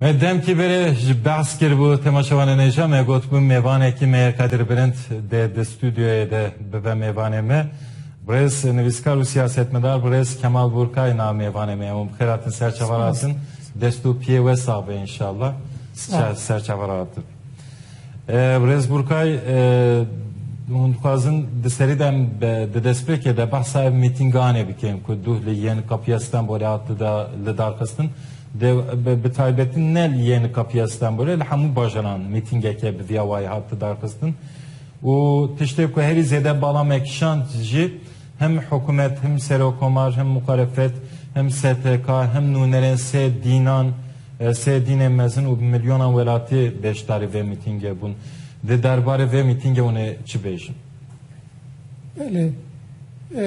Me demkî berê ji behs kiribû tema şewanenêja me gotibû mêvanekî me yê Kadir Bilind dê di stûdyoyê de bibe mêvanê me. Birêz nivîskar û siyasetmedar birêz Kemal Burkay na mêvanê me ye. Hûn bi xêr hatin ser çavar hatin. Dest û piyê we sax be înşallah. Ser çavar hatin. Birêz Burkay hûn dixwazin di serî de di destpêkê de behsa ev mîtînganê bikin ku duh li yên Kapiya Stenbolê hat li darxistin. Bi taybetî ne li yên Kapiya Stenbolê li hemû bajaran mîtîngeke bi vîya wayî hat darxistin û tiştê ku herî zêde bala me kişand jî Him hikûmet, him serokkomar, him muxalefet, him STK, him nûnerên sê dînan, sê dînên mezin û bi milyonan welatî beşdarî vê mîtîngê bûn. Di derbarê vê mîtîngê hûn ê çi bêjin? Belê.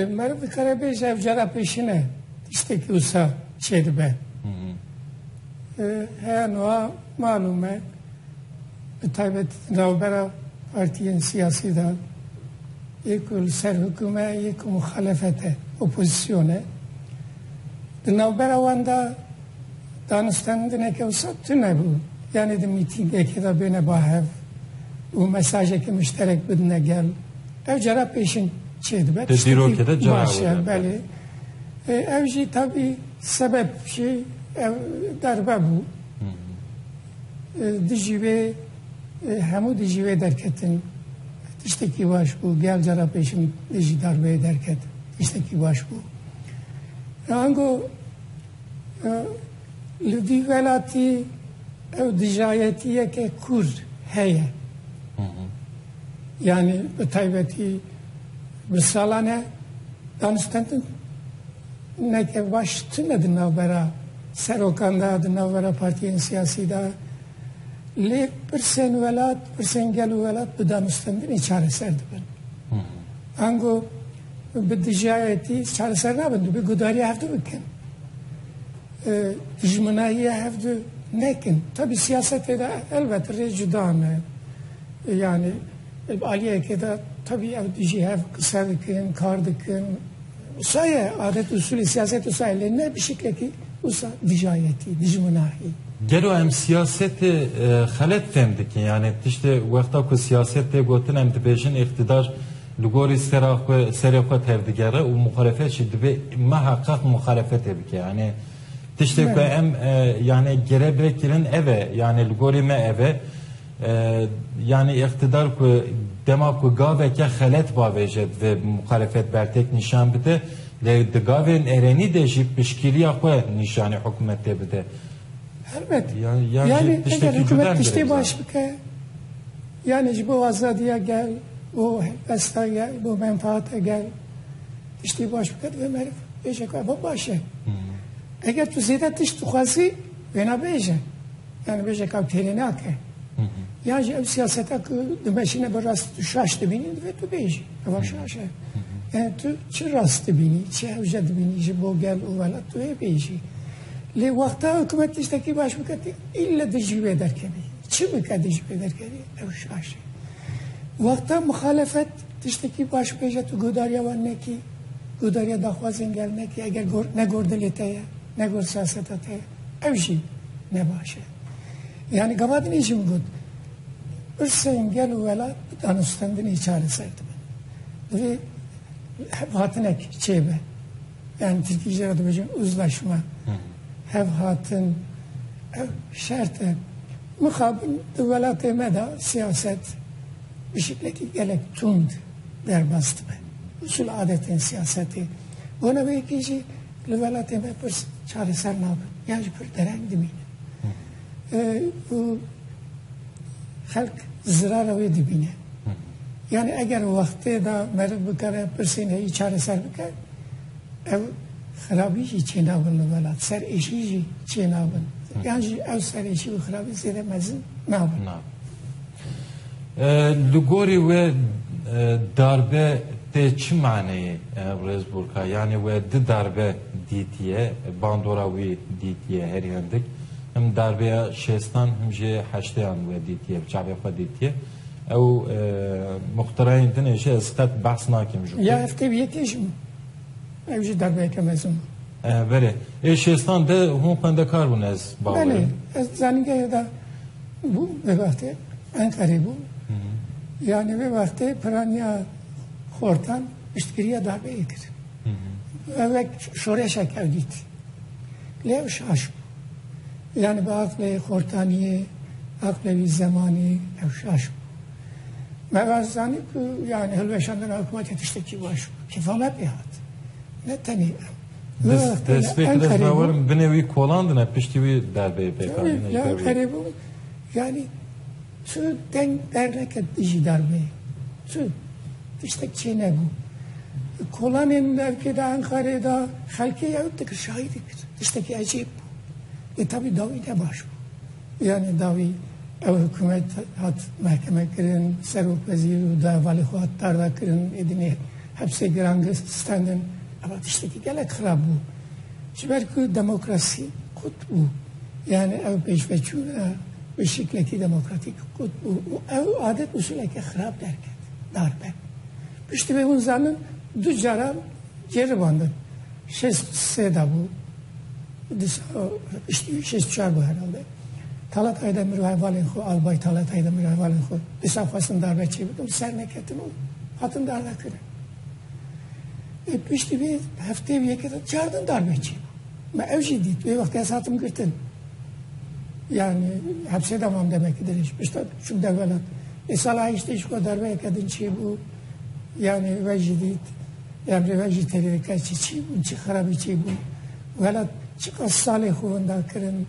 Meriv dikare bêje ev cara pêşine tiştekî wisa çêdibe. Heya nuha malûm e. bi taybet di navbera partiyên siyasî de yê ku li ser hikûm e yê ku muxalefet e, opozîsyon e. Di navbera wan de danûstandineke wisa tune bû. Yanî di mîtîngekê de bêne ba hev û mesajeke muşterek bidine gel. Ev cara pêşîn çêdibe. Di dîrokê de cara baş e, belê. Ev jî tabî sebep jî ev darbe bû. Dijî wê hemû dijî wê derketin. Tiştekî baş bû. Gel cara pêşin dijî darbeyê derket. Tiştekî baş bû. Ango li vî welatî ew dijayetiyeke kûr heye. Yani bi taybetî bi salan e daniştentin Neke baş tune di navbera serokan de, di navbera partiyên siyasî de. Lê pirsên welat, pirsên gel û welat bi danûstendinê çareser dibin. Ango bi dijayetî çareser nabin, dibê gudariya hevdu bikin. Dijminahiya hevdu nekin. Tabi siyasetê de elbet rê cuda ne. Yani aliyekê de tabi ew dijî hev qise dikin, kar dikin, Wisa ye adet usulî siyaset wisa ye lê ne bi şiklekî wisa dijayetî, dijminahî. Gelo em siyasetê xelet fêm dikin yanê tiştê wexta ku siyaset tê gotin em dibêjin îqtîdar li gorî sera xwe serê xwe tevdigere û muxalefet jî dibê miheqeq muxalefetê bike yanê tiştê ku em yanê girebê kirin ev e yanê li gorî me ev e. Yanî îqtîdar ku dema ku gaveke xelet bavêje divê muxalefet bertek nîşan bide lê di gavên erênî de jî piştgîriya xwe nîşanî hikûmetê bide. Helbet. Yanî eger hikûmet tiştê baş bike yanî ji bo azadiya gel, bo helbesta gel, bo menfaata gel tiştê baş bike divê meriv bêje ku ev baş e. Eger tu zêde tişt dixwazî wêne bêje. yan dibêje ka têrê nake yan jî ev siyaseta ku dimeşine bi rast tu şaş dibînî divê tu bêjî eva şaş e yani tu çi rast dibînî çi hewce dibînî ji bo gel û welat tu ê bêjî lê wexta hikûmet tiştekî baş bike tu îlle di jî wê derkevî çi bike di jî wê derkevî ew şaş e wexta muxalefet tiştekî baş bêje tu godariya wan nekî godariya daxwazên gel nekî eger negor dilê te ye negor siyaseta te ye ev jî ne baş e. Yani gavadinê jî min got pirsên gel û welat bi danûstendinê çareser dibe. Divê hevhatinek çêbe. Yani Tirkî jî re dibêjin uzlaşma, hevhatin, ev şert e. Mixabin di welatê me de siyaset bi şeklekî gelek tund derbas dibe. Usul adetên siyasetê. Bona wê yekê jî Li welatê me pirs çareser nabin yan ji pir dereng dimînin. Û xelk zirara wê dibîne. Yani eğer vaxtê da meriv bikare pirsên heyî çareser bike ev xirabî jî çênabin li welat ser êşî jî çênabin yan jî ew ser êşî û xirabî zêde mezin nabin. Li gorî we darbe tê çi maneyê Rêz Borka? Yanî we di darbe dîtiye, bandora wî dîtiye herî hindik. Him darbeya şêstan him jî heştêyan we dîtiye, bi çavê xwe dîtiye. Ew muxtirayên din ê jî ez qet behs nakim ji xwe. Ya heftê wî yekê jî bû. Ew jî darbeyeke mezin bû. Belê. Ê şêstan de hûn xwendekar bûn ez bawer im. Belê. Ez di zanîngehê de Bû vê wextê Enqerê bû. Yanî vê wextê piraniya xortan piştgiriya darbeyê kir. Ev wek şoreşek ew dît. Lê ew şaş bû. Yani bi aqlê xortaniyê, aqlê wî zemanî ew şaş bû. Me vas zanî ku yani hilweşandina hikûmetê tiştekî baş bû. Kêfa me pê hat. Ne tenê ew. Despêk dest ve werin binê wî kolandine piştî wî derbeyê pêkanîne. Ya Enqerê bû yanî tu deng derneket dijî darbeyê. Tu tiştek çê nebû. Kolanên devkê de Enqerê de xelkê ew dikir şahîdî kir. Tiştekî ecêb bû. Lê tevî dawî ne baş bû. Yanî dawî ew hikûmet hat mehkemekirin, serokwezîr û davalê xwe hat dardakirin, êdînê hepsê giran standin. Ev tiştekî gelek xirab bû. Ji ber ku demokrasî qut bû. Yanî ew pêşveçûna bi şiklekî demokratîk qut bû û ew adet usûleke xirab derket, dar be. Piştî vê hûn zanin du caran ceribandin. Şêst û sê de bû. Di sala piştî şêst û çar bû herhalde. Talatayê de min û hevalên xwe, albay Talatayê de min û hevalên xwe dîsa xwestin darbe çêbikin, serneketin û hatin darbekirin. Ê piştî vê hefteyê û yekê de çar din darbe çêbû. Me ew jî dît. Wê wextê ez hatim girtin. Yani hepsê de mam demekî dirêj. Pişta çûm develat. Ê sala heştê jî xwe darbeyeke din çêbû. Yani we jî dît. Ev rêve jî têkil dike çi çî bûn, çi xerabî çi bû û hela çiqas salê xwe winda kirin.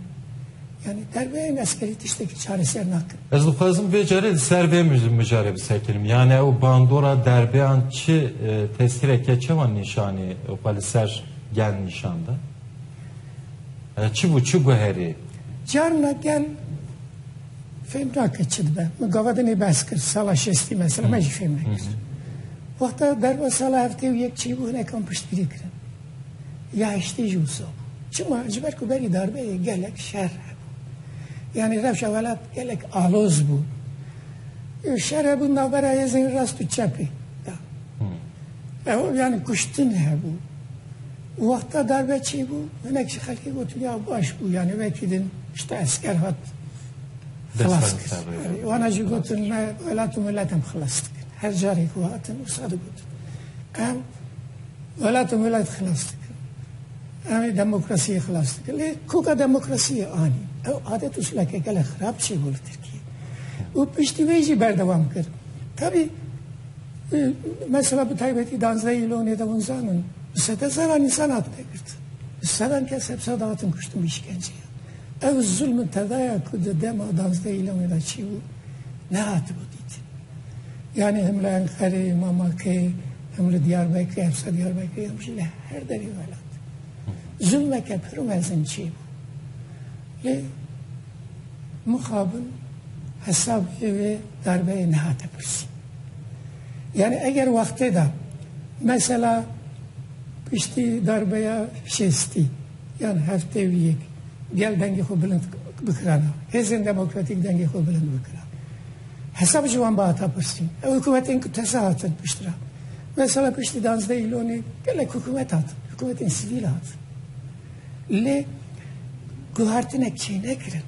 Yanî derbeyên eskerî tiştekî çareser nakin. Ez dixwazim vê carê li ser vê mijarê bi ser kirim. Yanî ew bandora derbeyan çi tesîreke çawa nîşanî xwe li ser gel nîşan da? Çi bû, çi guherî? Carna gel. Fêm nake çi dibe. Min gava din ê behs kir sala şestî mesela me jî fêm nekir. Wexta derva sala heftê û yek çêbû hinek em piştgirî kirin. Ya heştê jî wisa bû. Çima ji ber ku berî darbeyê gelek şer hebû. Yanî rewşa welat gelek aloz bû. Şer hebû navbera hêzên rast û çepê. Ew yanî kuştin hebû. Wexta darbe çêbû, hinek ji xelkê gotin ya baş bû yanî wekî din pişta esker hat xilas kir. Wana jî gotin me welat û milet em xilas dikin. Her carê ku hatin wisa digotin. Em welat û milet xilas dikin. Em ê demokrasiyê xilas dikin. Lê koka demokrasiyê anî. Ew adet û sileke gelek xirab çêbû li Tirkiyeyê. Û piştî wê jî berdewam kir. Tevî Mesela bi taybetî danzdeh îlonê de hûn zanin bi sede zeran însan hatine girtin. Bi sedan kes hep sada hatin kuştin bi îşkenceyê. Ew zulm tedaya ku di dema danzdeh îlonê de çî bû nehatibû dîtin. Yanî him li Enqerê, Mamakê, him li Diyarbekirê, hepsa Diyarbekirê him jî li her derê welat. Zulmeke pir mezin çê bû. Lê mixabin hesabê vê darbeyê nehate pirsîn. Yanî eger wextê de mesela piştî darbeya şêstî yan heftê û yek gel dengê xwe bilind bikirana, hêzên demokratîk dengê xwe bilind bikiran. Hesab ji wan bihata pirsîn. Ew hikûmetên ku teze hatin pişt re. Mesela piştî danzdeh îlonê gelek hikûmet hatin, hikûmetên sivîl hatin. Lê guhartine kê nekirin.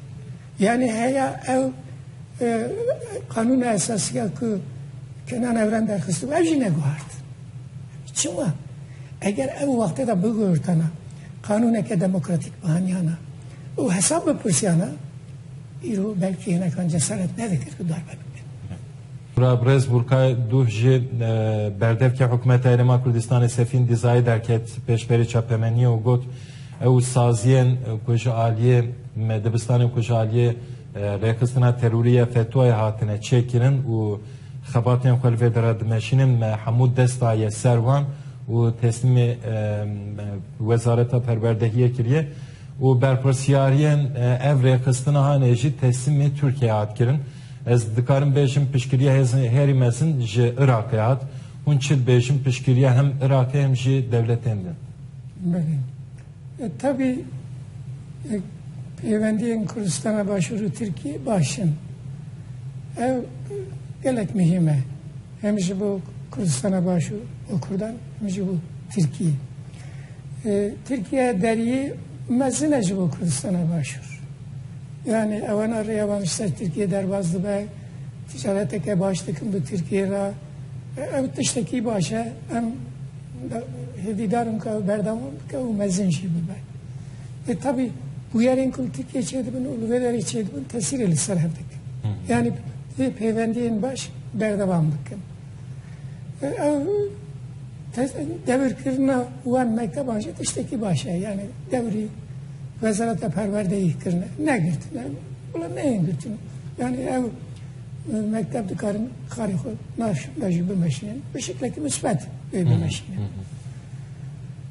Yani heya ew e, kanuna esasiya ku Kenan Evren derxist ev jî neguhart. Çima? Eger ev wextê de biguhirtana kanûneke demokratîk bihaniyana û hesab bipirsiyana îro belkî hinekan cesaret nedikir ku darbe bikin. Brez Burkay Duh ji berdevkê Hikûmeta Herêma Kurdistanê Sefîn Dîzayê derket pêşberî çapemeniyê û got, Ew saziyên ku ji aliyê me dibistanê ku ji aliyê rêxistina terorî ya FETO'yê hatine çêkirin û xebatên xwe li vê derê dimeşînin me hemû dest daye ser wan û teslîmê Wezareta Perwerdehiyê kiriye û berpirsyariyên ev rêxistinahanê jî teslîmê Tirkiyeyê hat kirin. Ez dikarim bêjim piştgiriya hêzên herî mezin ji Iraqê hat. Hûn çi dibêjin piştgiriya hem Iraqê hem jî dewletên din? Belê. E, tevî e, pêwendiyên Kurdistana Başûr û Tirkiyê baş in. Ev gelek muhîm e. Hem ji bo Kurdistana Başûr û Kurdan hem jî bo Tirkiyê. E, Tirkiye deriyê mezin e ji bo Kurdistana Başûr. Yanî ewana rêya wan ji ser Tirkiyeyê derbas dibe, ticareteke baş dikin bi Tirkiyeyê re. Ev tiştekî baş e. Em hêvîdar in ku ew berdewam bike û mezin jî bibe. Lê tevî bûyerên ku li Tirkiyeyê çêdibin û li vê derê çêdibin tesîrê li ser hev dikin. Yanî vê pêvendiyên baş berdewam bikin. Ev devirkirina wan mekteban jî tiştekî baş e yani devrî wezareta perwerdeyî kirine negirtine wala neyên girtin yani ew mekteb dikarin xarê xwe navşinda jî bimeşinin bi şeklekî misbet wê bimeşinin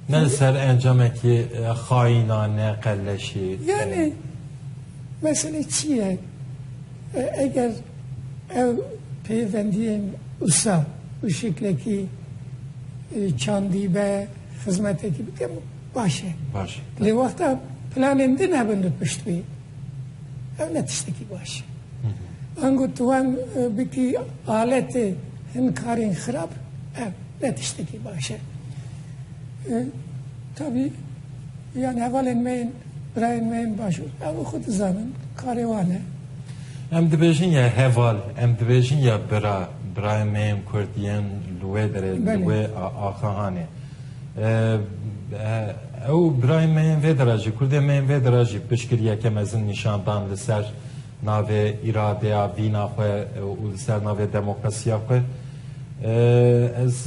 ne li ser encamekî xayînane qelleşî yani mesele çi ye Eger ev peyvendiyên usa bi şeklekî çandî be, xizmetekî bike baş e. Baş e. Lê wexta planên din hebin li pişt wê ev ne tiştekî baş e. Ango tu wan bikî aletê hin karên xirab ev ne tiştekî baş e. Tabî yan hevalên me yên Birayên me yên Başûr ew xwe dizanin, karê wan e. Em dibêjin ya heval, em dibêjin ya bira, birayên me yên Kurd yên li wê derê, li wê axahanê. Ew birayên me yên vê dera jî, Kurdên me yên vê dera jî piştgiriyeke mezin nîşan dan li ser navê îradeya vîna xwe û li ser navê demokrasiya xwe ez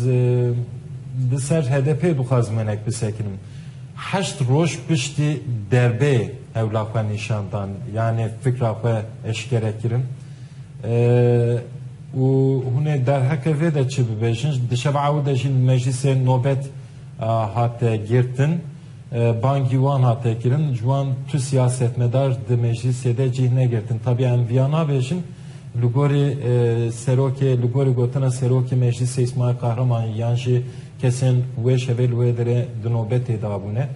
li ser HDP'ê dixwazim wenek bisekinim. Heşt roj piştî derbê hewla xwe nîşan dan yanê fikra xwe eşkere kirin û hûn ê derheqê vê de çi bibêjin? Di şeva ew de jî li meclîsê nobet hate girtin. Bangî wan hate kirin, ji wan tu siyasetmedar di meclîsê de cih negirtin. Tabiya em viya nabêjin, li gorî serokê, li gorî gotina serokê meclîsê Îsmaîl Kahramanî yan jî kesên wê şevê li wê derê di nobetê de bûne.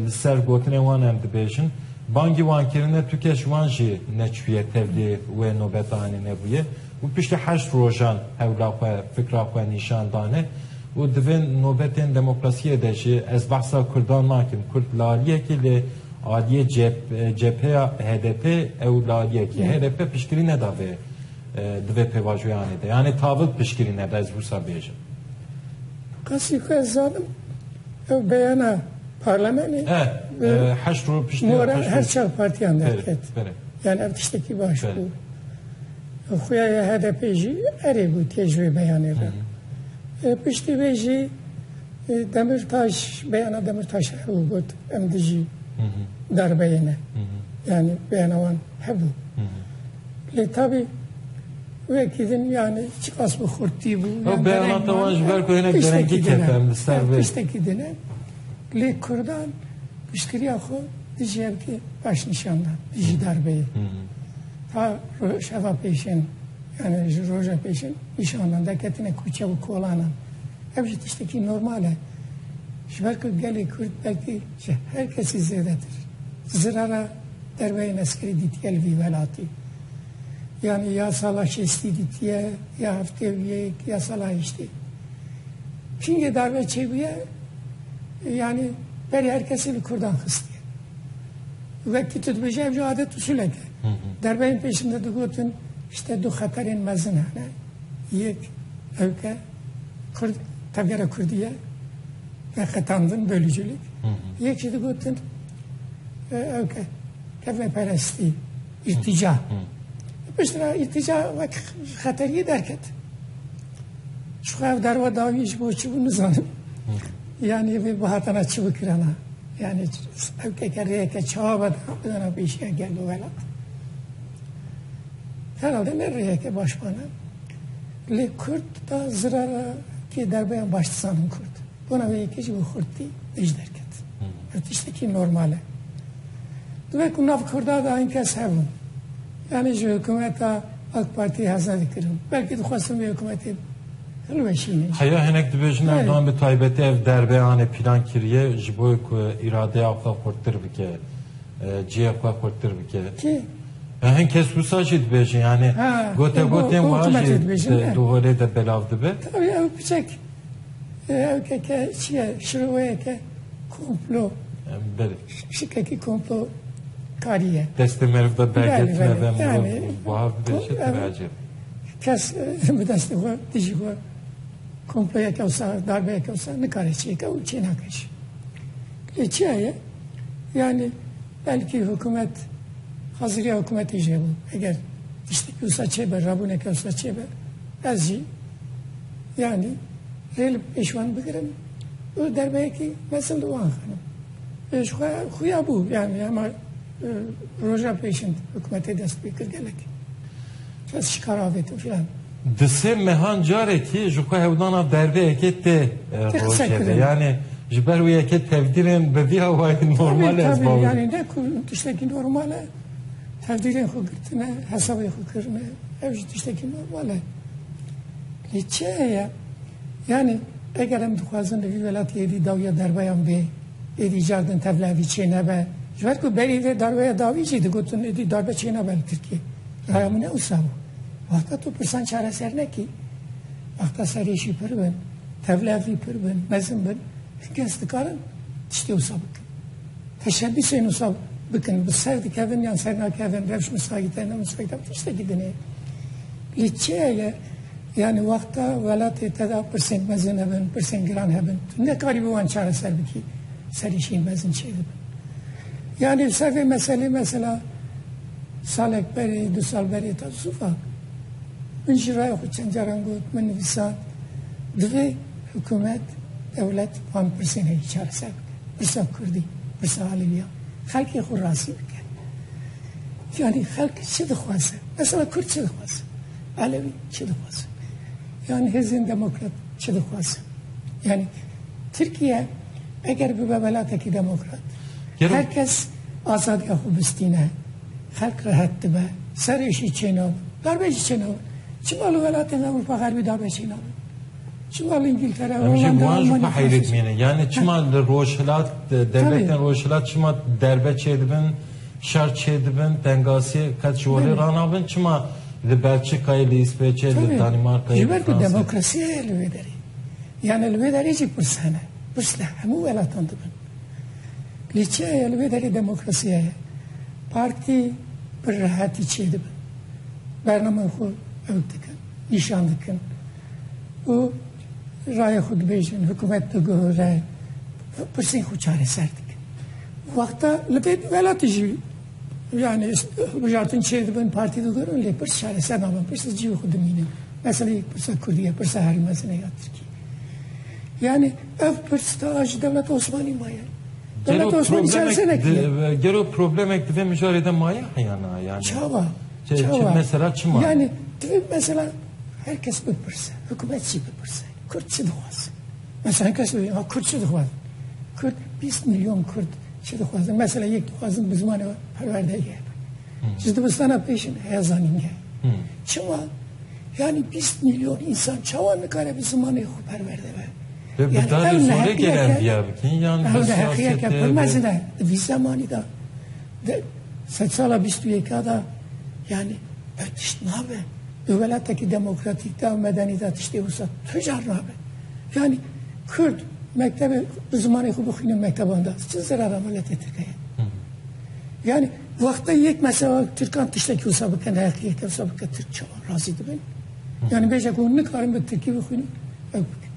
Li ser gotinên wan em dibêjin. Bangî wan kirine tu kes ji wan jî neçûye tevlî wê nobetanê nebûye û piştî heşt rojan hewla xwe, fikra xwe nîşan dane. Û di vê nobetên demokrasiyê de jî ez behsa Kurdan nakim. Kurd lariyek e lê aliyê cepheya HDP'ê ew lariyek e. HDP piştgirî neda vê di vê pêvajoyanê de. Yanî tavil piştgirî neda ez wisa bêjim. Asê ku ez zanim ew beyana parlamenê mora her çar partiyan derket. Yanî ev tiştekî baş bû. Xuya ya HDP'ê jî erê gotiye ji wê beyanê re. Piştî wê jî Demirtaş beyana Demirtaşê hebû got em dijî darbeyê ne. Yani beyana wan hebû. Lê tabî wekî din yani çiqas bi xurtî bû. Ew beyanata wan ji ber ku hinek derengî kete em li ser vê. Tiştekî din e. Lê Kurdan piştgiriya xwe dijî hevkê baş nîşan da dijî darbeyê. Ta rojeva pêşên yani ji roja pêşên nîşanan derketine kûçe û kolanan. Ev jî tiştekî normal e. Ji ber ku gelê Kurd belkî ji her kesî zêdetir zirara derveyên eskerî dîtiye li vî welatî. Yani ya sala şêstî dîtiye, ya heftê û yek, ya sala heştê. Kîngê darbe çêbûye yani berî her kesî li Kurdan xistiye. Wekî tu dibêjî ev jî adet usulek e. Derbeyên pêşin de digotin îşte du xeterên mezin hene. Yek ew ke kurd tevgera kurdî ye ve qetandin bölücülük. Yek jî digotin ew ke kevneperestî, îrtîca. Pişt re îrtîca wek xeteriyê derket. Şixwe ev derwa dawî ji bo çi bû nizanim. Yanî vê bihatana çi bikirana. Yanî ew tekerreyeke çawa ve bidana pêşiya gel û welat. Herhalde ne rêyeke baş bana. Lê Kurd da zirara kê derbeyan baş dizanin Kurd. Bona wê yekê ji bo xurtî nêj derket. Ew tiştekî normal e. Divê ku nav Kurda da hin kes hebin. Yanî ji hikûmeta AK Partî heze dikirin. Belkî dixwestin vê hikûmetê Heya hinek dibêjin Erdogan bi taybetî ev derbe anê pîlan kiriye ji bo ku îradeya xwe xurttir bike, cihê xwe xurttir bike. Ya hin kes wisa jî dibêjin yanê gote gotên wa jî di holê de belav dibe. Tabii ew biçek ew ke ke çiye şiroweye ke komplo şikekî komplo kariye. Destê meriv de bergetine ve mirov bav dibêje tiracê. Kes bi destê xwe dijî xwe komployeke wisa darbeyeke wisa nikare çêke û çê nake jî. Lê çiya ye yanî belkî hikûmet haziriya hikûmetê jê bû. Eger tiştekî wisa çêbe rabûneke wisa çêbe ez jî yanî rê li pêş wan bigirim û derbeyekî mesil li wan xenim. Ji xwe xuya bû yanî hema roja pêşin hikûmetê dest pê kir gelekî. Kes ji kar avêtin filan. Di sê mehan carekî ji xwe hewdana berdeyekê tê roşê yanê ji ber wê yekê tevdîrên bi vî awayî normal ez bawê. Yanê ne ku tiştekî normal e tevdîrên xwe girtine hesabê xwe kirine ev ji tiştekî normal e. Lê çi heye yanê eger em dixwazin li vî welatî êdî dawiya derbeyan bê êdî cardin tevlevî çênebe ji ber ku berî vê darbeya dawî jî digotin êdî darbe çênebe li Tirkiyê. Raya min ne wisa bû. Wexta tu pirsan çareser nekî, wexta serê jî pir bin, tevlev jî pir bin, mezin bin, hin kes dikarin tiştê wisa bikin. Teşebîsên wisa bikin, bi ser dikevin yan ser nakevin, rewş misagîte, ne misagîte, tiştekî dinê. Lê çiyeye yani wexta welatê te de pirsên mezin hebin, pirsên giran hebin. Tu nekarî bi wan çareser bikî, serê jî mezin çêdibin. Yani li ser vê meselê mesela Salek berê, du sal berê ta zûfak min ji rayê xwe çend caran got, min nivîsand, Divê hikûmet, dewlet van pirsên herî çareser bike. Pirsa kurdî, pirsa alêwiyan. Xelkê xwe razî bike. Yanî xelk çi dixwaze? Mesela kurd çi dixwaze? Alewî çi dixwaze? Yan hêzên demokrat çi dixwaze? Yanî Tirkiye eger bibe welatekî demokrat, her kes Azadiya xwe bistîne, xelk rehet dibe, serê jî çênabin. Darbe jî çênabin. Çima li welatên Ewropa Xerbî darbe çênabin? Çima li Îngîltere, Holanda, Almanya darbe çênabin? Em jî wan jî xwe heyrê dimînin. Yanî çima li Rojhilat, dewletên Rojhilat çima darbe çêdibin, şer çêdibin, tengasiyê qet ji holê ranabin? Çima li Belçîkayê, li Îsveçê, li Danîmarkayê, li Fransayê? Ji ber ku demokrasiya ye li wê derê. Yanî li wê derê jî pirs hene. Pirs li hemû welatan dibin. Lîçeya ye li vê derê demokrasiya ye. Partî bi rehetî çêdibin. Bernameyê xwe ew dikin, nîşan dikin û rayê xwe dibêjin, hikûmet diguhire, pirsên xwe çareser dikin. Wexta li vê welatî jî yani hilbijartin çêdibin, partî digurin lê pirs çareser nabin, pirsa cî xwe dimînin. Meselê pirsa Kurdî ye, pirsa herî mezin ye ya Tirkî. Yani Ev pirs ta ji dewleta Osmanî maye. Dewleta Gelo Osmanî çar problemek senek ye. di- e, gelo problemek di vê mijarê de maye heyana yani. Çawa? Çi- çi- Çawa? mesela çi maye? Yani divê mesela her kes bipirse, hikûmet jî bipirse. Kurd çi dixwaze? Mesela her kes bibîne, ha Kurd çi dixwaze? Kurd 20 milyon Kurd çi dixwaze? Mesela yek dixwazin bi zimanê we perwerdeyê hebe. Ji dibistana pêşin heya zanîngeh. Çima? Yanî bîst mîlyon însan çawa nikare bi zimanê xwe perwerde be? Yani ev neheqiyeke pir mezin e. Di vî zemanî de di sed sala bîst û yeka de yani pir tişt nabe. Di welatekî demokratîk de û medenî de tiştê wisa tu car nabe. Yani Kurd mektebê bi zimanê xwe bixwîne mekteban de çi zerara miletê Tirkiyeyê? Yani Wextê yek mesela Tirkan tiştekî wisa bikin her ki yeke wisa bike Tirk çawa razî dibin. Yani bêje ku nikarin bi Tirkî bixwînin ew bikin.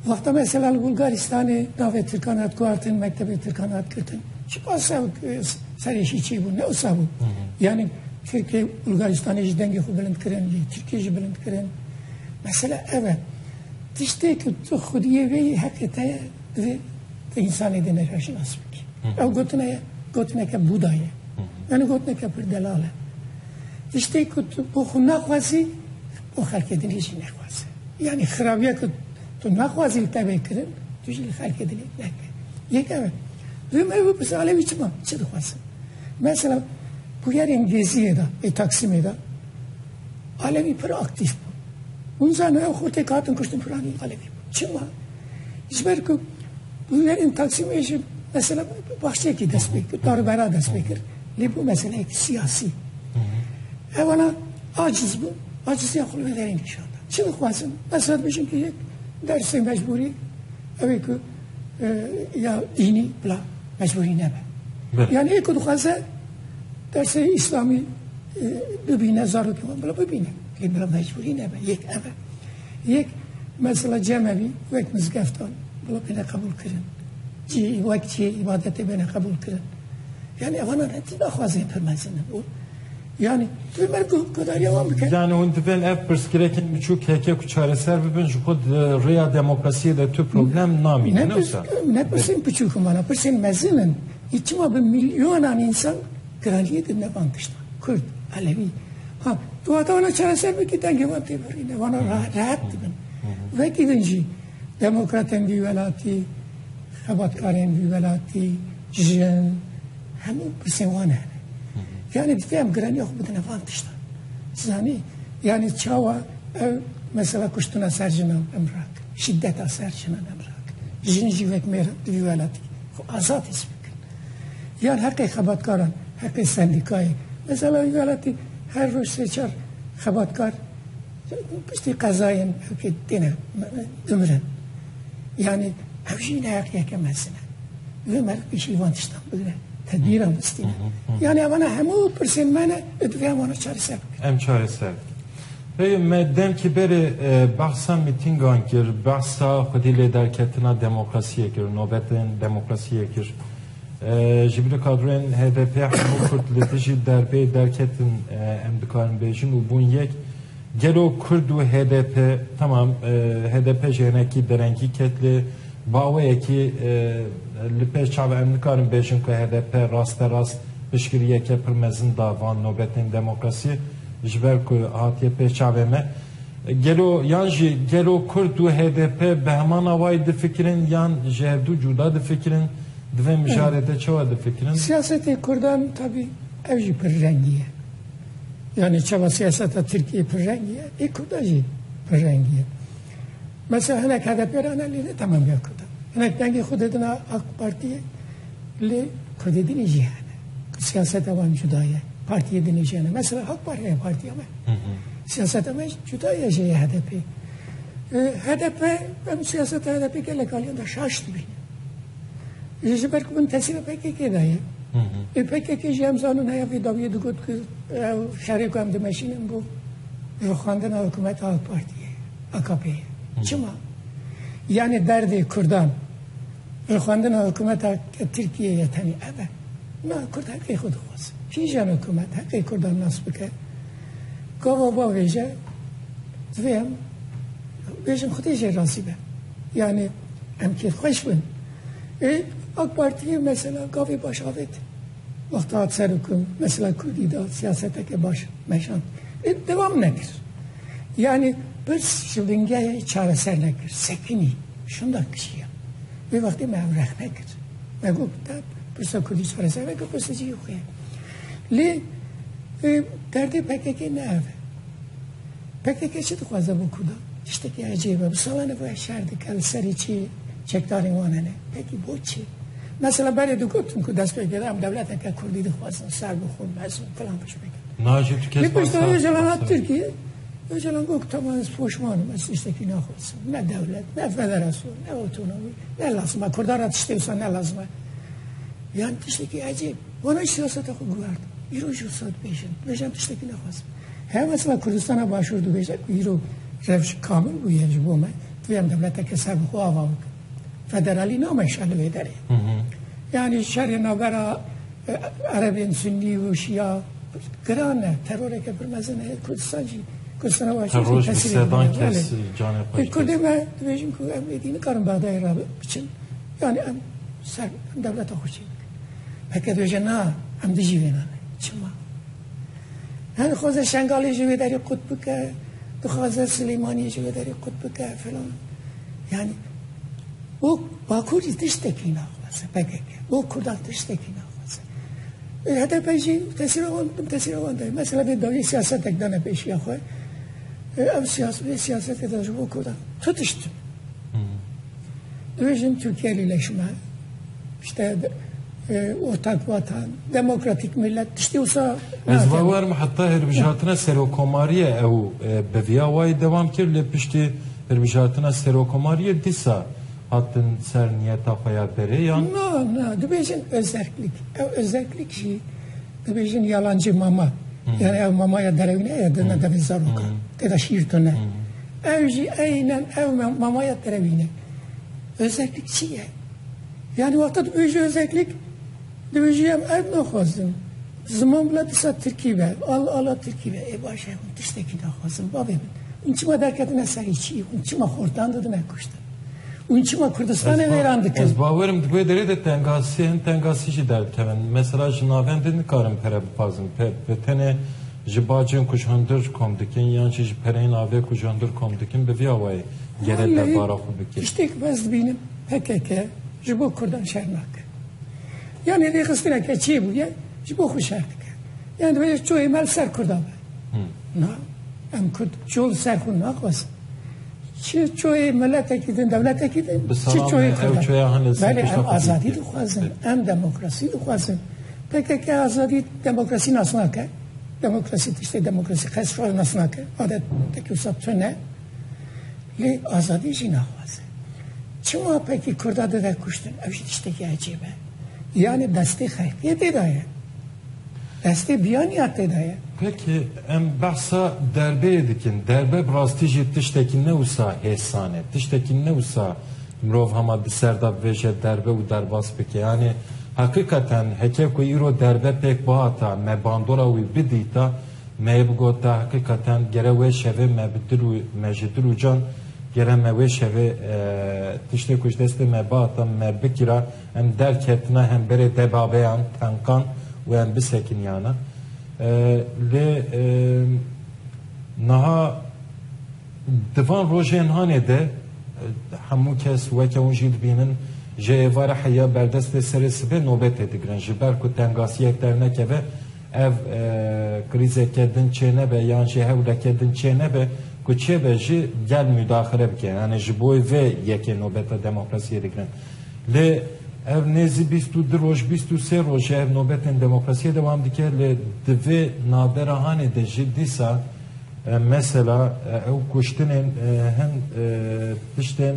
Wexta mesela li Bulgaristanê navê Tirkan hat guhardin mektebê Tirkan hat girtin. Çipa sew serêşî çî bû ne wisa bû. Yani Tirkê Bulgaristanê jî dengê xwe bilind kirin lê Tirkê jî bilind kirin. Mesela ev e. Tiştê ku tu xwediyê vê heqê te ye divê te însanê dê neka şinas bikî. Ew gotina ye, gotineke Buda ye. Yani gotineke pir delal e. Tiştê ku tu bo xwe naxwazî, bo xelkê dinê jî nexwaze. Yani xirabiya ku tu naxwazî li te bê kirin, tu jî li xelkê dinê neke. Yek ev e. Duyem ev bipirse alevî çima, çi dixwazin? Mesela bûyerê îngilîziyê de, ê Taksimê de alevî pir aktîf bû. Hûn zanin ew xwe tê katin kuştin filanî alevî bû. Çima? Ji ber ku hunerên Taksimê ji mesela baxçekî dest pê kir, darbera dest pê kir. Lê bû meseleyek siyasî. Hevala aciz bû, aciziya xwe li derê nîşan da. Çi dixwazin? Ez hate bijim ki yek dersê mecbûrî ew ê ku e, ya dînî bila mecbûrî nebe. Yani ê ku dixwaze dersê îslamî e, bibîne zarokî wan bila bibîne. Lê bila mecbûrî nebe. Yek ev e. Yek mesela cemevî wek mizgeftan bila bêne qebûlkirin. Cî wek cî îbadetê bêne qebûlkirin. Yani evanan re tî daxwazê pir mezin e bo. Yani tu mer guhdariya wan bike. Yani hûn divên ev pirsgirêkên biçûk heke ku çareser bibin ji xwe di rêya demokrasiyê de tu problem namîne ne wisa? Ne pirsên biçûk in vana, pirsên mezin in. Î çima bi milyonan însan Kraliyê di nevan tiştan, Kurd, Elewî, ha tu hata wana çareser bikî dengê wan tê birîne, wana rehet dibin. Vekî din jî demokratên vî welatî, xebatkarên vî welatî, jin, hemû pirsên wan hene. Yani divê em giraniya xwe bidine van tiştan. Zanî, yani çawa ew mesela kuştina ser jinan em rakin, şiddeta ser jinan em rakin. Jin jî wek mêr di vî welatî xwe azad his bikin. dikin. Yan heqê xebatkaran, heqê sendîkayê. Mesela wî welatî her roj sê çar xebatkar piştî qezayên hewkê têne dimirin. Yanî ew jî neheqiyeke mezin e. Divê me pêşî van tiştan bigire. Tedbîran bistîne. Yanî evana hemû pirsên me ne û divê em wana çareser bikin. Em çareser bikin. Rê me demkî berê behsa mîtîngan kir, behsa xwedî lê derketina demokrasiyê kir, nobetên demokrasiyê kir. Ji ber kadroyên HDP'ê hemû Kurd li dijî derbê derketin em dikarin bêjin û bûn yek. Gelo Kurd û HDP, temam HDP jî hinekî derengî ket lê baweyekî li pêş çav e. Em nikarin bêjin ku HDP rasterast piştgiriyeke pir mezin da van nobetên demokrasiyê. ji ber ku hatiye pê çavê me. Gelo yan jî gelo Kurd û HDP bi heman awayî difikirin yan ji hevdû cuda difikirin? Di vê mijarê de çawa difikirin? Siyasetê Kurdan tabî ev jî pir rengî ye. Yanî çawa siyaseta Tirkiyeyê pir rengî ye, ê Kurda jî pir rengî ye. Mesela hinek HDP'ê re ne lê ne temamîya Kurdan. Hinek dengê xwe didin AK Partiyê. Lê Kurdê din jî hene. Siyaseta wan cuda ye. Partiyê din jî hene. Mesela Halk Parti ye partiya me. Siyaseta me cuda ye jê HDP. HDP em siyaseta HDP gelek aliyan da şaş dibîne. Ji ji ber ku min tesîra PKK da ye. Ê PKK jî em zanin heya vê dawiyê digot ku şerê ku em dimeşînin bo rixwandina hikûmeta AK Partiyê ye. AKP'ê ye. Çima? Yani derdê Kurdan Rêxwendina hikûmeta Tirkiyeyê tenê ev e. Na kurd heqê xwe dixwaze. Kîjan hikûmet heqê kurdan nas bike? Gava va vêje divê em bêjin xwedê jê razî be. Yani em kêfxweş bin. Ê AK Partiyê mesela gavê baş avêt. Wexta hat ser û ku mesela kurdî da siyaseteke baş meşand lê dewam nekir. Yanî pirs ji bingehê çareser nekir, sekinî, şinda kişiya. Vê wextê me ev rexne kir. Me got te pirsa kurdî çareser neke pirsa cihê xwe ye. Lê derdê PKK'ê ne ev e. Pkk çi dixwaze bo kurdan? Tiştekî ecêb e. Bi salan ev ev şer dike li serî çi çekdarên wan hene. Pekî bo çi? Mesela berê digotin ku destpêkêr em dewleteke kurdî dixwazin ser bixwin mezin filan piştbêkî. Na jî tu kes bas kir. Lê pişt Ocalan hat Tirkiyê. Ocalan got tamam ez poşman im ez tiştekî naxwazim. Ne dewlet, ne federasyon, ne otonomî ne lazim e. Kurdan re tiştê wisa ne lazim e. Yan tiştekî ecêb. Wana jî siyaseta xwe guhert. Îro jî wisa dibêjin. Dibêjin em tiştekî naxwazin. Her mesela Kurdistana Başûr dibêje ku îro rewş kamil bûye ji bo me divê em dewleteke ser bi xwe ava bikin. Federalî nameşa li vê derê. Yani şerê navbera Erebên Sunnî û Şia giran e. Teroreke pir mezin heye Kurdistan jî. Kurdistana Başûr jî tesirê dibîne. Kurdê me dibêjin ku em êdî nikarin Bexdayê re biçin. Yani em ser devleta xwe çê bikin. Peke dibêje na em dijî vê nane. Çima? Her dixwaze Şengalê ji wê derê qut bike, dixwaze Silêmaniyê ji wê derê qut bike filan. Yani bo Bakur jî tiştekî naxwaze PKK. Bo Kurdan tiştekî naxwaze. HDP jî tesîra wan bin tesîra wan de. Mesela vê dawî siyasetek dane pêşiya xwe. Ev siyaset vê siyasetê de ji bo Kurdan. Tu tişt. Divê jin Tirkiye lîleşme. İşte Ortakvatan, demokratîk milet tiştê wisa nake. Ez bawer me heta hilbijartina serokomariyê ew bi viya wayî dewam kir lê piştî hilbijartina serokomariyê dîsa hatin ser niyeta xwe ya berê yan? Na, na, dibêjin ozerklik. Ew ozerklik jî dibêjin yalancê mama. Yani ew mamaya derewîne ye dina devê zarokan. Tê de şîr tune. Ew jî eynen ew mamaya derewîne. Ozerklik çi ye? Yanî wexta dibê ji Ozeklik dibê ji em erd naxwazin. Ziman bila disa tirkî be, al ala tirkî be. Ê baş e, hûn tiştekî naxwazin bavê min. Hûn çima derketine serê çiyê? Hûn çima xortan didine kuştin? Hûn çima Kurdistanê wêran dikin? Ez bawer im di vê derê de tengasî, hin tengasî jî derdikevin. Mesela ji navên din nikarim pere bixwazim. Bi tenê ji bacên ku ji hundir kom dikin yan jî ji pereyên ave ku ji hundir kom dikin bi vî awayî gere derdara xwe bikin. Tiştê ku ez dibînim. PKK ji bo kurdan şer nake. Yanî rêxistineke çê bûye ji bo xwe şer dike. Yan dibêje çoyê me li ser kurdan be. Na em kurd çol ser xwe naxwazin. Çi çoyê milletekî din dewletekî din çi çoyê kurdan. Belê em azadî dixwazin, em demokrasî dixwazin. PKK azadî demokrasî nas nake. Demokrasî tiştê demokrasî qes şor nas nake. Adet tekî wisa tune lê azadî jî naxwazin. Çima peki Kurda dide kuştin? Ev jî tiştekî ecêb e. Yanê destê xelkê tê de ye. Destê biyaniya tê de ye. Peki em behsa derbeyê dikin. Derbe bi rastî jî tiştekî ne wisa hêsan e. Tiştekî ne wisa mirov hema di ser de bivêje derbe û derbas bike. Yanê heqîqeten heke ku îro derbe pêk bihata, me bandora wî bidîta, Me yê bigota heqîqeten gere wê şevê me bi dil û me ji dil û can gere me wê şevê tiştê ku ji destê me bihata me bikira em derketina hemberê debabeyan, tenqan û em bisekiniyana. Lê niha di van rojên hanê de hemû kes weke hûn jî dibînin ji êvarê heya berdestê serê sibê nobetê digirin ji ber ku tengasiyek dernekeve. Ev krîzeke din çênebe yan jî hewleke din çênebe ku çêbe jî gel mudaxile bike. Yanî ji bo vê yekê nobeta demokrasiyê digirin. Lê ev nêzî bîst û du roj, bîst û sê roj e ev nobetên demokrasiyê dewam dike. Lê di vê navbera hanê de jî dîsa mesela ew kuştinên hin tiştên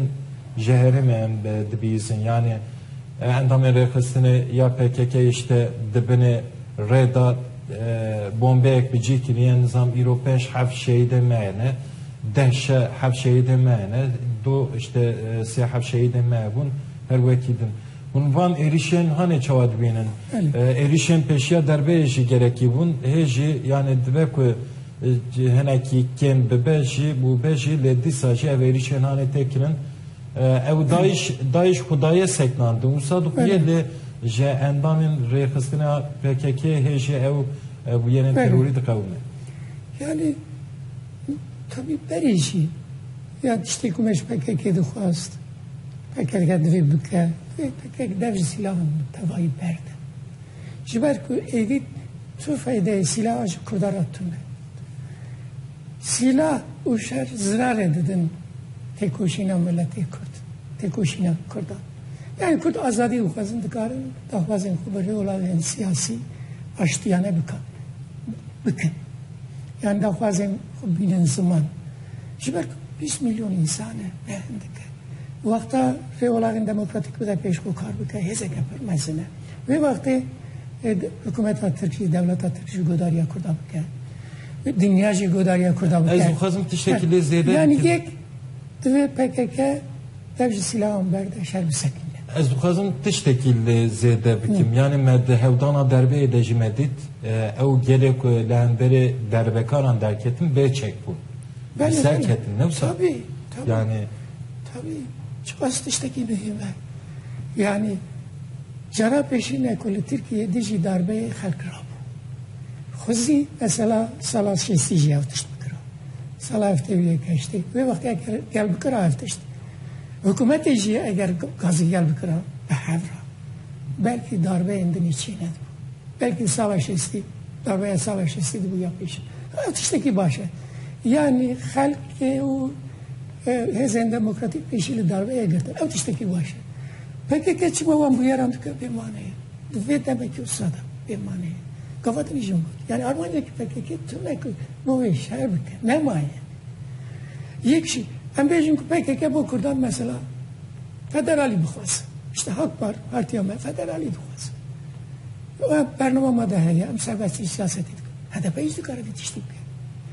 ji herêmê em dibihîzin. Yanî Endamên rêxistinê ya PKK'ê ji te di binê rê de bombeyek bi cî kiriye, nizam îro pênc heft şehîdên me hene, deh şe heft şehîdên me hene, du ji te sê heft şehîdên me hebûn, her wekî din. Hûn van êrîşên hanê çawa dibînin. Êrîşên pêşiya derbeyê jî gerekî bûn, hê jî yanê dibe ku hinekî kêm bibe jî bûbe jî lê dîsa jî ev êrîşên hanê tê kirin. Ew dayiş dayiş xwe daye seknan di wisa di xwe lê ji endamên rêxistina PKK hê jê ew bûyerên terorî diqewime. Yani tabii berê jî ya tiştê ku me ji PKK dixwast PKK divê bike divê PKK dev ji silahan tevayî berde. Ji ber ku êdî tu feydeyê silaha ji Kurda re tune. Sîlah û şer zirarê didin têkoşîna miletê Kurd, têkoşîna Kurdan. Yanî Kurd azadî bixwazin dikarin daxwazên xwe bi rûyewlagên siyasî aştiyane bikin. Bikin. Yan daxwazên xwe bînin ziman. Ji ber ku bîst milyon însan e ne hindik e. Wexta rêwelagên demokratîk bide pêş xwe kar bike hêzeke pir mezin e. Vê wextê hikûmeta Tirkî, dewleta Tirkî ji godariya Kurda bike. Dinya jî godariya Kurda bike. Ez dixwazim tiştekî lê zêde bikim. Yani yek divê PKK dev ji silahan berde şer bi sekin. Ez dixwazim tiştekî lê zêde bikim. Yani me di hewdana derbeyê de jî me dît ew gelê ku li hemberê derbekaran derketin bê çek bûn. Belê, Ser belê. ketin ne wisa. Tabii, tabii. Yani Tabii. Çiqas tiştekî muhîm e. Yani Cara pêşîn e ku li Tirkiyeyê dijî darbeyê xelk rabû. Xwezî mesela sala şêstî jî ev tişt bikira. Sala heftê û yek heştê wê wextê eger gel bikira ev tişt. Hikûmetê jî eger gazî gel bikira bi hev ra. Belkî darbeyên din î çê nedibû. Belkî sala şêstî darbeya sala şêstî dibû ya pêşîn. Ev tiştekî baş e. Yanî xelkê û Hêzên demokratîk pêşî li darbeye girtin. Ew tiştekî baş e. Pkk çima wan bûyeran dike bê mane ye. Di vê demekî wisa de bê mane ye. Gava din jî got. Yani armanca ki pkk tune ku rovê şer bike. Nemaye. Yek jî em bêjin ku pkk bo kurdan mesela federalî bixwaz. İşte Halk Par, partiya me federalî dixwaz. Bernama me de heye em serbestî siyasetê dikin. HDP hiç dikare vê tiştî bike.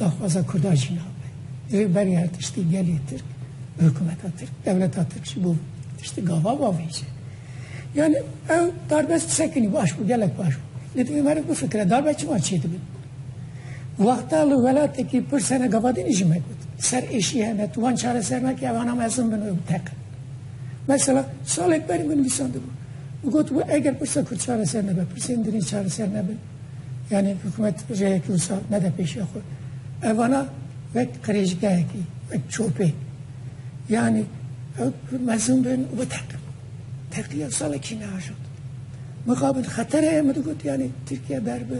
daxwaza Kurdan jî nabe. Divê berê her tiştî gelê Tirk û hikumeta Tirk, dewleta Tirk jî bo tiştî gava bavêje. Yani ew darbez sekinî baş bû, gelek baş bû. Lê divê me re bifikire darbe çima çêdibin. Wexta li welatekî pir sene gavadînî jî me got. Ser êşî hene, tu wan çareser nake ev ana mezin bin û teqin. Mesela salek berî min nivîsandibû. Got bû eger pirsa Kurd çareser nebe, pirsên dinê çareser nebin. Yanî hikûmet rêyekî wisa nede pêşiya xwe. Ev vana wek qirêjgehekî, wek çopê. Yanî ew mezûn bin û biteqin. Teqiya salekî neajot. Mixabin xeter heye min digot yanî Tirkiye ber bi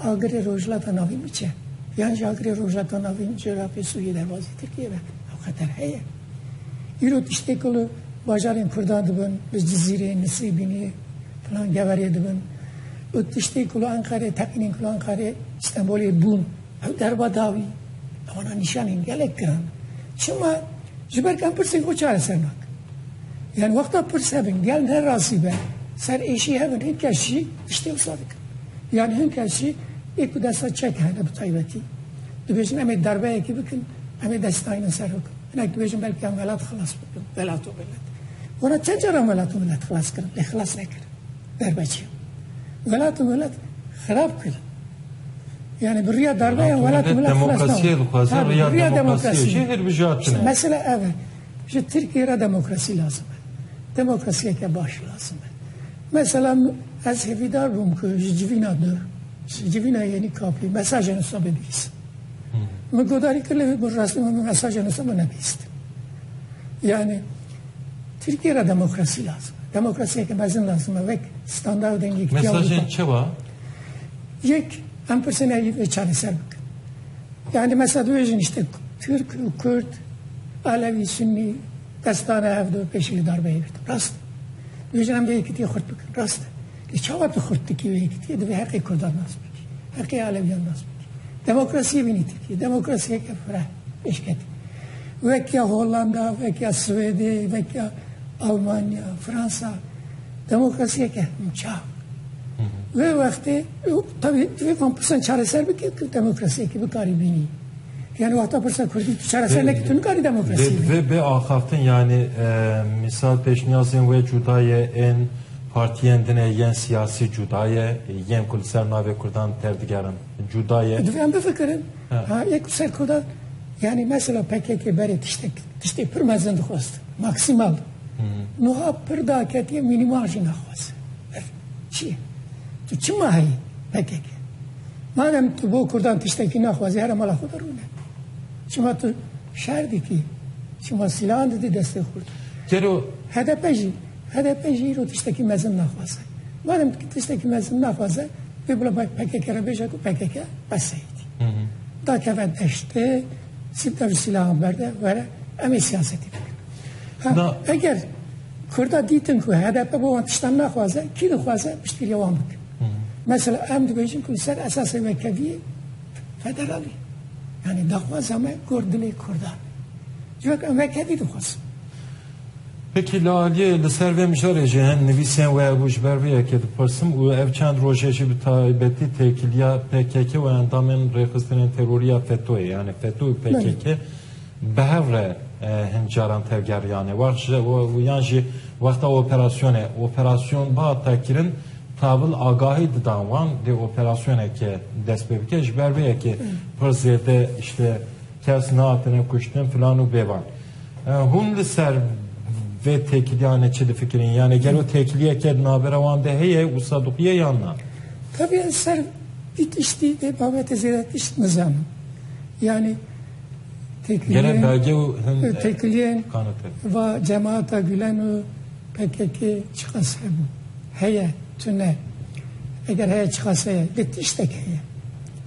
agirê Rojhilata Navîn biçe. Yan jî agirê Rojhilata Navîn ji Iraqê Sûriyê derbasî Tirkiye be. Ew xeter heye. Îro tiştê ku li bajarên Kurdan dibin, li Cizîrê, Nisêbînê, filan Geverê dibin û tiştê ku li Enqerê, teqînên ku li Enqerê, Stenbolê bûn, ew derba da wî. Ewana nîşanên gelek giran in. Çima? Ji ber ku em pirsên xwe çareser nakin. Yan wexta pirs hebin, gel ne rasî be, ser êşî hebin, hin kes jî tiştê wisa dikin. Yan hin kes jî ê ku desta çek hene bi taybetî, dibêjin em ê derbeyekê bikin, Em ê dest dayînin ser hûk. Hinek dibêjin belkî em welat xilas bikin, welat û milet. Were çend car em welat û milet xilas kirin, lê xilas nekirin. Derbeçiyan. Welat û milet xirab kirin. Yani bi riya darbeyan welat û milet xilas nakin. Demokrasiye dixwazin, riya demokrasiye. Jê hilbijartine. Mesela ev e. Ji Tirkiye re demokrasî lazim e. Demokrasiyeke baş lazim e. Mesela ez hêvîdar bûm ku ji civîna dur, ji civîna yenî kapî mesajên wisa bibîsim. Min guhdarî kir lê wê bi rastî min bi mesajê nûsa min nebîst. Yanî Tirkiyê re demokrasî lazim e. Demokrasiyeke mezin lazim e wek standard û dengê Tirkiya Mesajên çi wa? Yek em pirsên evî vê çareser bikin. Yani mesela dibêjin işte Türk, Kürt, Alevi, Sünni destane hevdu peşili darbe yekirdi. Rast. Dibêjin em vê yekitiye xurt bikin. Rast. Lê çawa tu xurt dikî wê yekî? Tu yê divê heqê kurdan nas bikî, heqê alewiyan nas bikî. Demokrasiyê bînî Tirkiyeyê. Demokrasiyeke fireh pêşketî. Wek ya Hollanda, wek ya Swêdê, wek ya Almanya, Fransa. Demokrasiyeke çav. Wê wextê tevî divê van pirsan çareser bike ku demokrasiyekî bikarî bînî. Yani wahta pırsa Kürdi çare sen leki tüm kari demokrasi. Ve be axaftin yani misal peşniyazın ve cudaye en Partiyên din e yên siyasî cuda ye, yên ku li ser navê Kurdan tevdigerin cuda ye. Divê em bifikirin, ha yek li ser Kurdan, yanî mesela pkk berê tiştek, tiştê pir mezin dixwest, maksimal. Nuha pir da ketiye minimal jî naxwest. Ev çi ye? Tu çima heyî pkk? Madem tu bo Kurdan tiştekî naxwazî here mala xwe de rûne. Çima tu şer dikî? Çima sîlahan didî destê Kurdan? Gelo HDP jî HDP'ê jî îro tiştekî mezin naxwaze. Madem ki tiştekî mezin naxwaze, vê bila bay PKK'ê re bêje ku PKK qeseyîtî. Da keve deştê, sîpter û sîlahan berde, were em ê siyasetî bikin. Ha, eger Kurda dîtin ku HDP bo wan tiştan naxwaze, kî dixwaze piştgiriya wan bikin. Mesela em dibêjin ku li ser esasê wekeviyê federalî. Yani daxwaza me gor dilê Kurdan. Civak em vekevî dixwazin. Wekî li aliyê li ser vê mijarê jî hin nivîsên we hebû ji ber vê yekê dipirsim û ev çend rojê jî bi taybetî têkiliya pkk û endamên rêxistinên terorî ya FETO'yê yanî FETO û pkk bi hev re hin caran tevgeriyane wext ji yan jî wexta operasyonê operasyon bihata kirin tabil agahî didan wan dê operasyoneke dest pê bike ji ber vê yekê pir zêde îşte kes nehatine kuştin filan û bêvan. Hûn li ser vê têkiliyanê çi difikirîn? Yanê gelo têkiliyeke di navbera wan de heye û sadiqiye yan na? Tevî ez ser vî tiştî vê babetê zêde tişt nizanim. Yanê Gere belge û hin têkiliyên va cemaata Gulen û pkk çiqas hebû? Heye tu ne. Eger heye çiqas heye. Lê tiştek heye.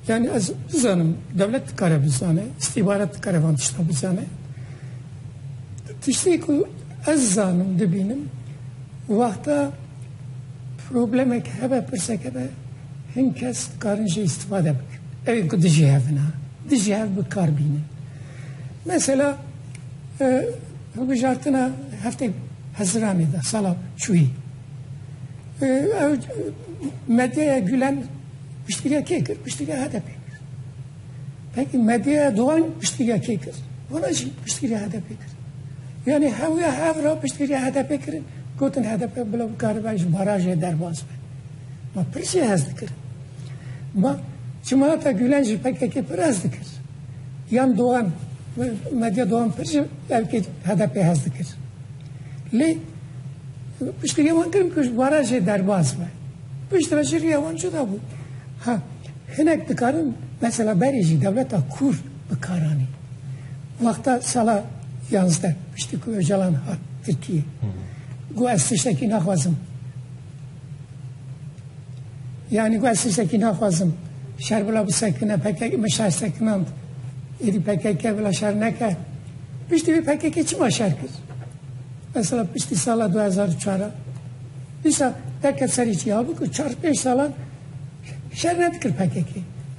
Yani ez bizanim dewlet dikare bizane, îstîbarat dikare van tişta bizane. Tiştê ku ez zanim dibînim wexta problemek hebe pirsek hebe hin kes dikarin jê îstîfade bikin. Evên ku dijî hevin ha. Dijî hev bi kar bînin. Mesela hilbijartina heftê Heziranê de sala çûyî. Ew medyaya Gülen Piştgiriya kê kir? Piştgiriya HDP'ê kir. Peki medyaya Doğan piştgiriya kê kir? Wana jî piştgiriya HDP'ê kir. Yani hewya hev ra piştgiriya HDP kirin. Gotin HDP bila bikaribe ji barajê derbas be. Ma pir jî hez dikir. Ma Çimata Gülen jî PKK pir hez dikir. Yan Doğan, medya Doğan pir jî belkî HDP hez dikir. Lê piştgiriya wan kirin ku ji barajê derbas be. Piştre jî riya wan cuda bû. Ha hinek dikarin mesela berê jî dewleta Kurd bi kar anî. Wexta sala yazdeh piştî ku Ocalan hat Tirkiyê got ez tiştekî naxwazim. Yanî got ez tiştekî naxwazim. Şer bila bisekine PKK me şer sekinand. Êdî PKK bila şer neke. Piştî vê PKK çima şer kir? Mesela piştî sala 2004 Dîsa derket serî çiya bû ku çar pênc salan şer nedikir pkk.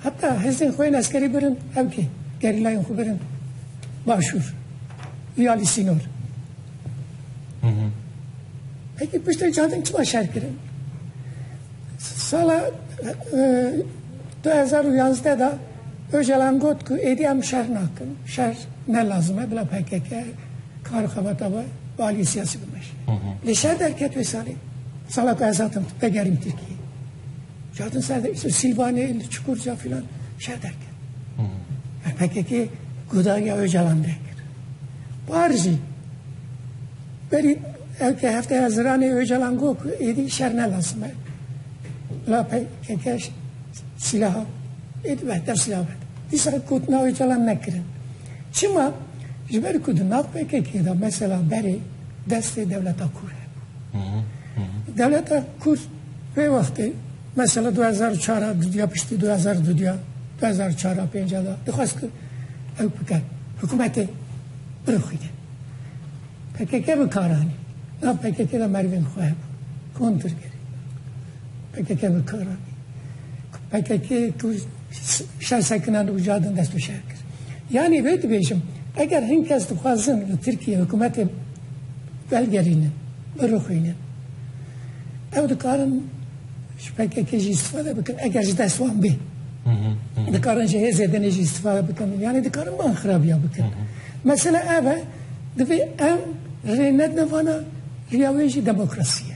Heta hêzên xwe yên eskerî birin ew kê? Gerîlayên xwe birin başûr û ya li sînor. Peki piştê cadin çima şer kirin? Sala 2011 da Ocalan got ku êdî em şer nakin, şer ne lazim e, bila pkk kar û xebata xwe bi aliyê siyasî bimeşe. Lê şer derket wê salê. Sala ku ez hatim vegerîm Tirkiyeyê. Ji hatin ser de îsor Sîlvanê, li Çukurca filan şer derket. Yani pkk godariya Ocalan derkir. Par jî berî ew ke hefteya ziranê Ocalan got ku êdî şer ne lazim e. Bila pkk Silaha ê dibe hetev silah be. Dîsa got navê çalan nekirin. Çima? Ji ber ku di nav PKK'ê de mesela berê destê dewleta kûr hebû. Dewleta kûr vê wextê mesela 2004 a dudiya piştî 2000 dudiya 2004 a pênca da dixwest ku ew bike hikûmetê birixwîne. PKK bi kar anî. Nav PKK'ê de merivên xwe hebû. Kontir kir. pkk bi kar anî ku pkk ku şer sekinan û ca din dest û şer kir. Yanî vê dibêjim eger hin kes dixwazin li Tirkiye hikûmetê velgerînin, birixwînin ew dikarin ji pkk jî îstîfade bikin eger ji dest wan bê. Dikarin ji hêzê din jî îstîfade bikin yanî dikarin ban xirabiya bikin. Mesela ev e divê em rê nedin vana riya wê jî demokrasiye.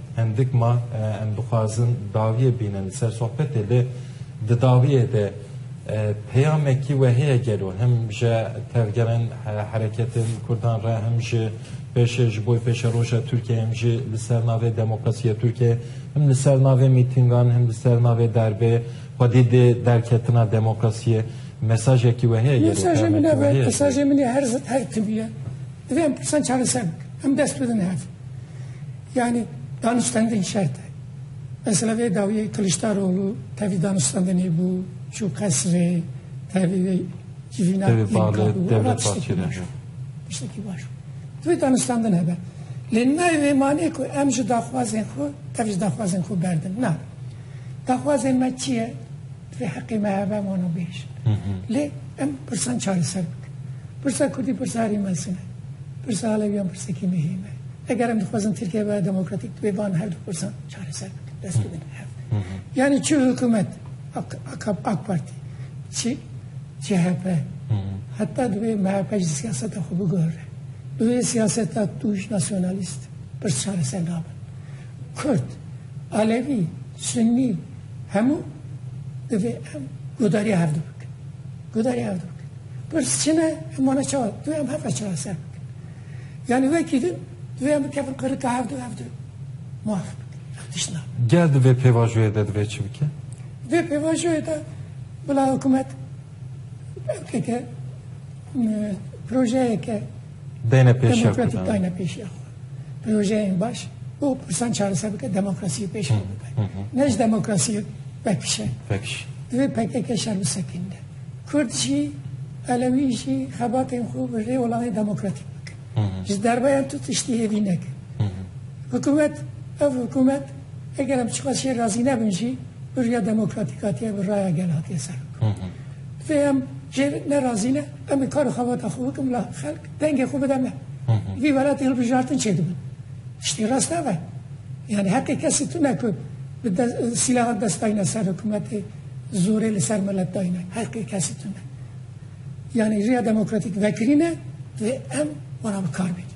Hindik ma em dixwazin dawiyê bînin li ser sohbetê lê di dawiyê de peyamekî we heye gelo him ji tevgerên hereketên Kurdan re him jî pêşê ji bo pêşeroja Tirkiyeyê him jî li ser navê demokrasiya Tirkiyeyê him li ser navê mîtîngan him li ser navê derbê xwedî dê derketina demokrasiyê mesajekî we heye gelo Mesajê min peyamekî ev we e, heye mesajê min ê her zid her tim ye. Divê em pirsan çareser bikin. Em dest bidin hev. Yani danûstendin şert e. Mesela vê dawiyê Kiliçdaroğlu tevî danûstendinê bû, çû qesrê, tevî vê civîna Tevî balê devlet parçêne bû. Tiştekî baş bû. Divê danûstendin hebe. Lê nayê vê manê ku em ji daxwazên xwe tevî ji daxwazên xwe berdin. Na. Daxwazên me çi ye? Di vê heqê me hebe mano bêj. Lê em pirsan çareser bikin. Pirsa Kurdî pirsa herî mezin e. Pirsa Aleviyan pirsekî muhîm e. Eger em dixwazin Tirkiye bibe demokratîk divê van her du pirsan çareser bikin. Dest bidin hev. Yanî çi hikûmet AKP, AK Partî, çi CHP. Heta divê MHP jî siyaseta xwe biguhire. Bi vê siyaseta tûj nasyonalîst pirs çareser nabin. Kurd, Alevî, Sunnî, Hemû divê em guhdarîya hev dû bikin. Guhdarîya hev dû bikin. Pirs çi ne em wana çawa divê em hev re çawa ser bikin. Yanî wekî din divê em bikevin qirika hev dû hev dû muaf bikin. Tişt na. Gel di vê pêvajoyê de divê çi bike? Vê pêvajoyê de bila hikûmet belkeke projeyeke dayne pêşiya Kurdan. Demokratik dayne pêşiya xwe. Projeyên baş û pirsan çareser bike demokrasiyê pêşiya bike. Ne ji demokrasiyê pekişe. Pekişe. Divê PKK şer bisekînde. Kurd jî Elewî jî xebatên xwe bi rê olanê demokratîk bikin. Ji derbeyan tu tiştî hêvî neke. Hikûmet ev hikûmet eger em çiqas jê razî nebin jî bi rêya demokratîk hatiye bi raya gel hatiye ser. Vê em jê ne razî ne, em ê kar û xebata xwe bikin bila xelk dengê xwe bide me. Li vî welatê hilbijartin çêdibin. Tiştê rast nebe. Yanî hetê kesî tune ku bi sîlahan dest dayne ser hikûmetê, zorê li ser milet dayne. Heqê kesî tune. Yanî riya demokratîk vekirîne divê em wana bi kar bêne.